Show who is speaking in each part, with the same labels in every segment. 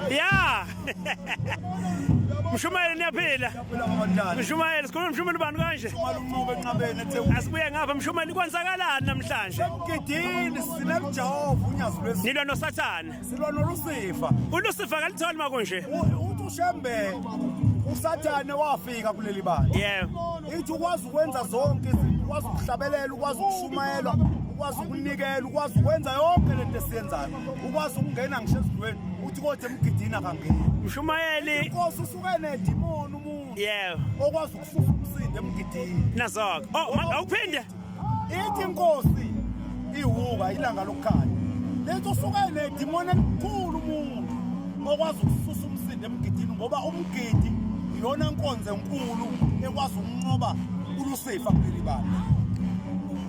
Speaker 1: ya mshumayeli niyaphila mshumayeli sikhuluma mshumayeli ubani kanje asibuye ngapha mshumayeli kwenzakalani namhlanje emgidini
Speaker 2: sinekujehova unyazi lwesi nilwa nosathane
Speaker 1: silwa nolusifa
Speaker 2: ulusifa kalitholi
Speaker 1: makunje uthi ushembe
Speaker 2: usathane wafika kuleli bandla yebo ithi ukwazi
Speaker 1: ukwenza
Speaker 2: zonke izinto ukwazi ukuhlabelela ukwazi ukushumayela ukwazi ukunikela ukwazi ukwenza yonke le nto esiyenzayo ukwazi ukungena ngisho ezintweni uthi kodwa emgidini akangeni mshumayeli inkosi
Speaker 1: usuke
Speaker 2: nedimoni umuntu yebo okwazi
Speaker 1: ukususa
Speaker 2: umsindo emgidini nazoko oh
Speaker 1: awuphinde ithi
Speaker 2: inkosi iwuka ilanga lokukhanya lethi usuke nedimoni elikhulu umuntu okwazi ukususa umsindo emgidini ngoba umgidi iyona nkonzo enkulu ekwazi ukunqoba ulusifa kuleli bantu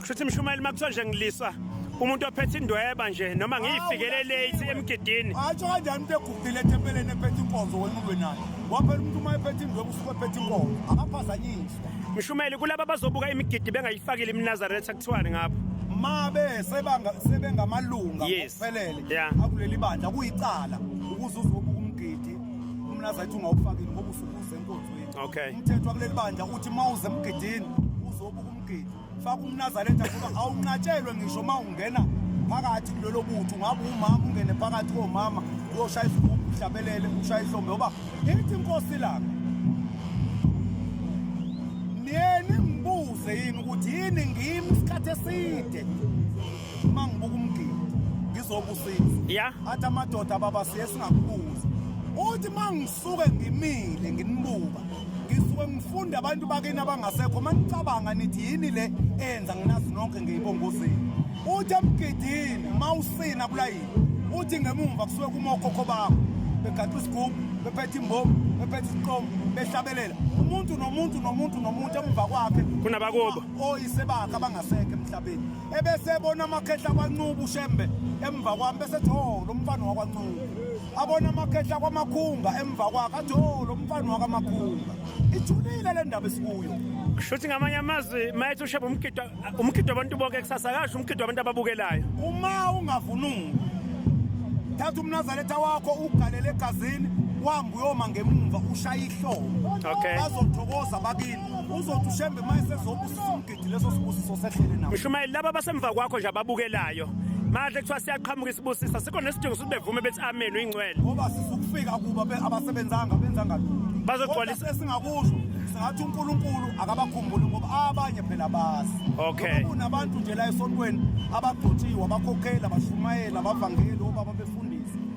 Speaker 2: kushuthi
Speaker 1: mshumayeli makuthiwa nje ngiliswa umuntu ophethe indweba nje noma ngiyifikele late emgidini atsho kanjani umuntu
Speaker 2: egugile ethempeleni ephethe inkonzo wena ulwe naye waphela umuntu uma ephethe indweba usuke ephethe inkonzo akaphazanyisi Mshumeli kulabo
Speaker 1: abazobuka imigidi bengayifakile iminazaretha kuthiwani ngabo mabe
Speaker 2: sebanga sebengamalunga Yes. ngokuphelele
Speaker 1: Yeah. akuleli
Speaker 2: bandla kuyicala ukuze uzobuka umgidi umnazaretha ungawufakile ngoba usukuze enkonzweni Okay. umthetho wakuleli
Speaker 1: bandla
Speaker 2: uthi mawuze emgidini uzobuka umgidi faka umnazaretha ngoba awunqatshelwe ngisho uma ungena phakathi kulelo butho ngabe umama ungene phakathi komama uyoshaya isigubhu uhlabelele ushaya ihlombe ngoba ithi inkosi lami niyeni ngibuze yini ukuthi yini ngimi isikhathi eside uma ngibuka umgidi ngizobusisa ya athi
Speaker 1: amadoda
Speaker 2: baba siye singakubuza uthi uma ngisuke ngimile nginibuka ngisuke ngifunde abantu bakini abangasekho uma nicabanga nithi yini le eyenza nginazi nonke ngeyibongozini uthi emgidini uma usina kulayini uthi ngemumva kusuke kuma okhokho bakho begaxa isigubhu bephethe imbomu bephethe isiqomo behlabelela umuntu nomuntu nomuntu nomuntu emva kwakhe kunabakubo
Speaker 1: oyise bakhe
Speaker 2: abangasekho emhlabeni ebese ebona amakhehla kwaNcuba uShembe emva kwami bese ethi oh lo mfana wakwaNcuba abona amakhehla kwamakhunga emva kwakhe athi oh lo mfana wakamakhunga ijulile le ndaba esikuyo kushuthi ngamanye
Speaker 1: amazwi mayethi uShembe umgido umgido abantu bonke kusasa akasho umgido abantu ababukelayo uma
Speaker 2: ungavunuli thatha umnazaretha wakho ugalele egazini wambe uyoma ngemumva ushaye ihlobo okay. bazothokoza
Speaker 1: bakini
Speaker 2: uzothi ushembe uma esezobusa leso sibusiso sehlele nawo mshumayeli laba basemva kwakho
Speaker 1: nje ababukelayo manje kuthiwa siyaqhamuka isibusiso sikho nesidingo sokuthi bevume bethi amen uyingcwele ngoba sisukufika
Speaker 2: kuba abasebenzanga benza ngathi bazogcwalisa
Speaker 1: esingakusho
Speaker 2: singathi uNkulunkulu akabakhumbuli ngoba abanye phela bazi okay kunabantu
Speaker 1: nje la
Speaker 2: esontweni abagcotshiwe abakhokheli abashumayeli abavangeli obaba befundisa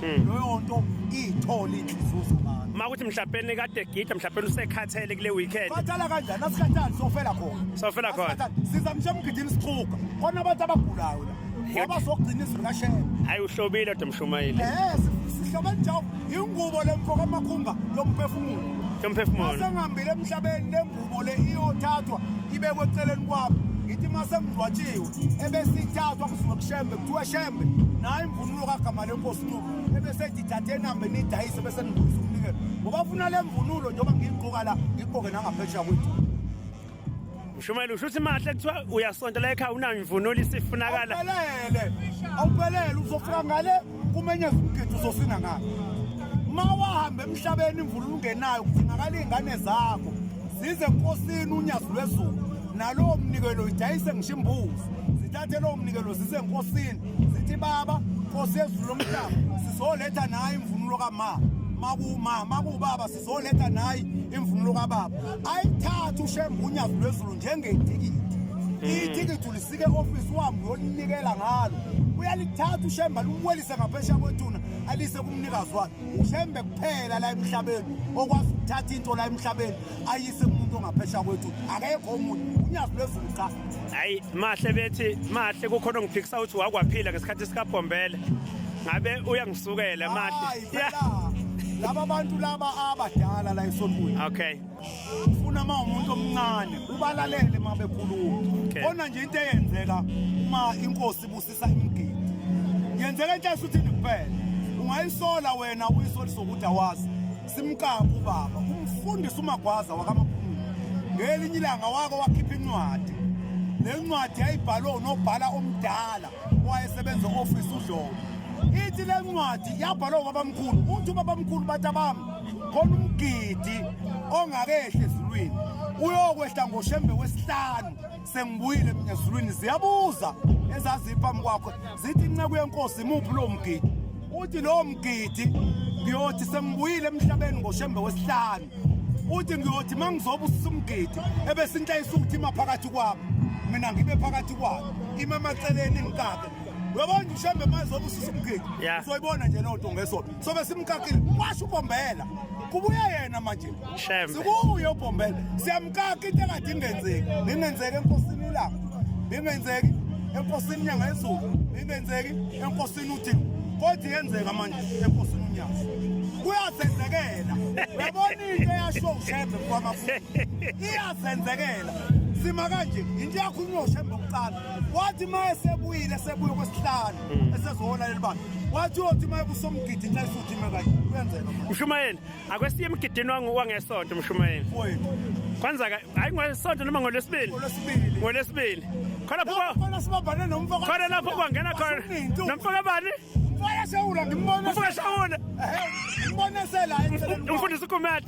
Speaker 2: hmm. loyo nto iyithole inhlizuzo manje uma kuthi mhlawumbe kade
Speaker 1: gida mhlawumbe usekhathele kule weekend khathala kanjani asikhathali
Speaker 2: sofela khona sofela khona
Speaker 1: siza mshe mgidini
Speaker 2: sixhuga khona abantu abagulayo la ngoba sokugcina izulu kashela hayi uhlobile kodwa
Speaker 1: mshumayeli eh sihlobela
Speaker 2: njalo ingubo lemfoko amakhumba lomphefumulo lomphefumulo
Speaker 1: asengihambile emhlabeni
Speaker 2: lengubo le iyothathwa ibekwe eceleni kwabo ngithi uma sengidlwatshiwe ebesithathwa kusuke kushembe kuthiwa shembe naye imvunulo kagama lenkosi ncubo ebesethi thathe enambe nidayise bese nibuyisa umnikelo ngoba funa le mvunulo njengoba ngiyigqoka la ngigqoke nangaphesheya kwethu
Speaker 1: mshumayeli usho ukuthi mahle kuthiwa uyasonta la ekhaya unamvunulo isifunakala awuphelele
Speaker 2: awuphelele uzofika ngale kumenyeza umgidi uzosina ngalo ma wahamba emhlabeni imvunulo ungenayo kudingakala iy'ngane zakho zize enkosini unyazi lwezulu nalowo mnikelo idayise ngisho imbuzi zithathe lowo mnikelo zize enkosini zithi baba nkosi yezulu lomhlaba sizoletha nayo imvunulo kama makuma makubaba sizoletha nayi imvunulo kababa ayithatha ushembe unyazi lwezulu njengetikiti hmm. ithikithi ulisike ofisi wami uyolinikela ngalo uyalithatha ushembe alumwelise ngaphesha kwethuna alise kumnikazi wakhe ushembe kuphela la emhlabeni okwazi ukuthatha into la emhlabeni ayise umuntu ongaphesha kwethu akekho umuntu unyazi lwezulu cha hayi mahle
Speaker 1: bethi mahle kukhona ongiphikisa ukuthi wakwaphila ngesikhathi sikabhombele ngabe uyangisukela mahle
Speaker 2: laba bantu laba abadala la esontweni okay
Speaker 1: ufuna uma
Speaker 2: umuntu omncane ubalalele uma bekhuluma khona nje into
Speaker 1: eyenzeka
Speaker 2: uma inkosi Sa imgidi. Yenzeka into esuthini kuphela. Ungayisola wena uyisolisa ukuthi awazi. Simqaka ubaba. Umfundisi umagwaza wakamaphumuli. Ngelinye ilanga wako wakhipha incwadi. Le ncwadi yayibhalwe unobhala omdala owayesebenza office uDlomo. Ithi le ncwadi yabhalwa ubabamkhulu. Uthi ubabamkhulu bathi abami khona umgidi ongakehli ezulwini uyokwehla ngoshembe wesihlanu sengibuyile mina ezulwini ziyabuza ezaziphambi kwakho zithi inceku yenkosi imuphi lowo mgidi uthi lowo mgidi ngiyothi sengibuyile emhlabeni ngoshembe wesihlanu uthi ngiyothi uma ngizoba usumgidi ebesinhlayisa ukuthi ima phakathi kwami mina ngibe phakathi kwabo ima amaceleni ngikake uyabona ushembe mazoba usumgidi uzoyibona nje
Speaker 1: loo nto
Speaker 2: ngesona sobe simkakile washo ubombela kubuye yena manje sikuye
Speaker 1: ubombela
Speaker 2: siyamkaka into engathi ingenzeki ingenzeki enkosini ilanga ingenzeki enkosini inyanga yezulu ingenzeki enkosini uthini kodwa yenzeka manje enkosini unyanga kuyazenzekela uyabona into eyasho ushembe kwamafu iyazenzekela sima kanje into yakhulunywa ushembe kuqala wathi uma esebuyile esebuye kwesihlanu mm. esezohola leli banga wathi uyothi uma ebusomgidi nxa esuthi ime kanye kuyenzeka mshumayeli
Speaker 1: akwesiye emgidini wangesonto mshumayeli
Speaker 2: kwanza
Speaker 1: hayi ngolesonto noma ngolwesibili ngolwesibili khona
Speaker 2: khona lapho kwangena
Speaker 1: khona nomfaka bani umfaka shawula
Speaker 2: ngimbona umfaka shawula
Speaker 1: ngimbona
Speaker 2: sela umfundisi kumele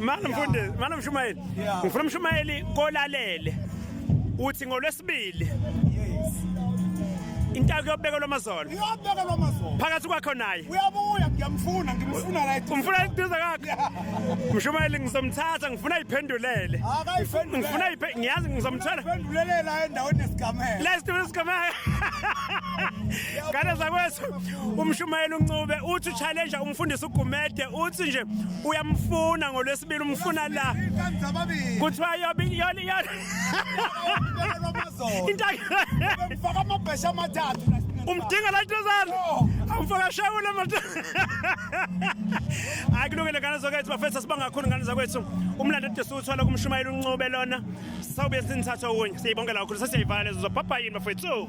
Speaker 1: Mana mfundisi, mana mshumayeli. Ngifuna umshumayeli kolalele. Uthi ngolwesibili. Yes. Intaka kuyobekelwa amazolo. Iyobekelwa amazolo.
Speaker 2: Phakathi kwakho naye.
Speaker 1: Uyabuya ngiyamfuna,
Speaker 2: ngimfuna right. Umfuna iduze kakhe.
Speaker 1: Mshumayeli ngizomthatha, ngifuna iphendulele. Akayiphendulele. Ngifuna iphe, ngiyazi ngizomthola. Phendulele la endaweni
Speaker 2: yesigameko. Last week sigameko.
Speaker 1: Kana zakwethu. umshumayeli uncube uthi uchallenge umfundisi ugumede uthi nje uyamfuna ngolwesibili umfuna la
Speaker 2: kuthiwa yobe yona
Speaker 1: yona
Speaker 2: intaka
Speaker 1: amabhesha
Speaker 2: amathathu umdinga la
Speaker 1: ntozana awumfaka shawula mata hayi kulungile ngane zokwethu bafethu sibanga kakhulu ngane zakwethu umlando de siwuthola kumshumayeli uncube lona sawubuye sinithatha okunye siyibongela kakhulu sesiyayivala lezo zobhabha yini bafethu